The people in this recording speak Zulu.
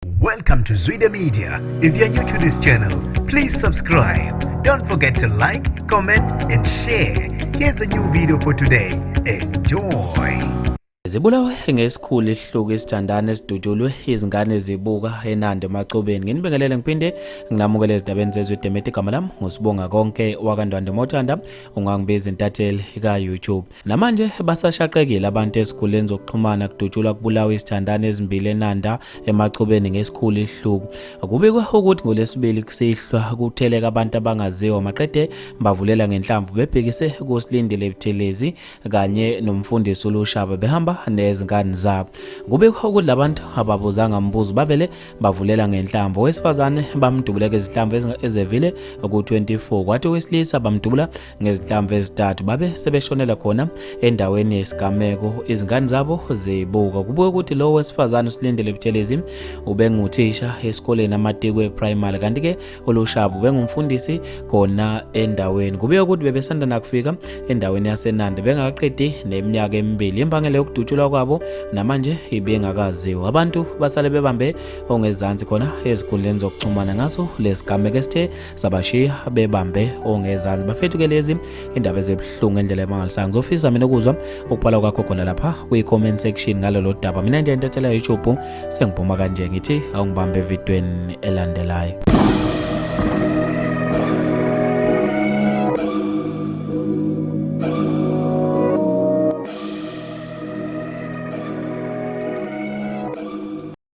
Welcome to Zwide Media. If you're new to this channel, please subscribe. Don't forget to like, comment and share. Here's a new video for today. Enjoy. Zibulawe ngesikhulu isihluku isithandane esidutshulwe izingane zibuka enande emacobeni nginibingelele ngiphinde nginamukele ezindabeni zezwe demete igama lami ngusibonga konke wakandwande mothanda ungangibiza intatheli ka-youtube Namanje basashaqekile abantu ezikhuleni zokuxhumana kudutshulwa kubulawa izithandani ezimbili eNanda emachubeni ngesikhulu ihluku. Kubikwe ukuthi ngolesibili kusihlwa kutheleka abantu abangaziwa maqede bavulela ngenhlamvu bebhekise kusilindile Buthelezi kanye nomfundisi uLushaba behamba nezingane zabo. Kubikwe ukuthi labantu ababuzanga mbuzo bavele bavulela ngenhlamvu. Owesifazane bamdubuleka izihlamvu ezevile ku-24 kwathi owesilisa bamdubula ngezinhlamvu ezintathu babe sebeshonela khona endaweni yesigameko izingane zabo zibuka kubuke ukuthi lowo wesifazane usilindele buthelezi ubenguthisha esikoleni amatikwe primary kanti ke ulushabu ubengumfundisi khona endaweni kubuye ukuthi bebesanda nakufika endaweni yasenandi bengakaqedi neminyaka emibili imbangela yokudutshulwa kwabo namanje ibingakaziwa abantu basale bebambe ongezansi khona ezikhundleni zokuxhumana ngaso lesigameko esithe sabashiya bebambe ongezansi bafethu ke lezi indaba ezibuhlungu endlela emangalisayo ngizofisa mina ukuzwa ukubhala kwakho khona lapha kwi-comment section ngalolo daba mina nje intathela youtube sengiphuma kanje ngithi awungibambe evidweni elandelayo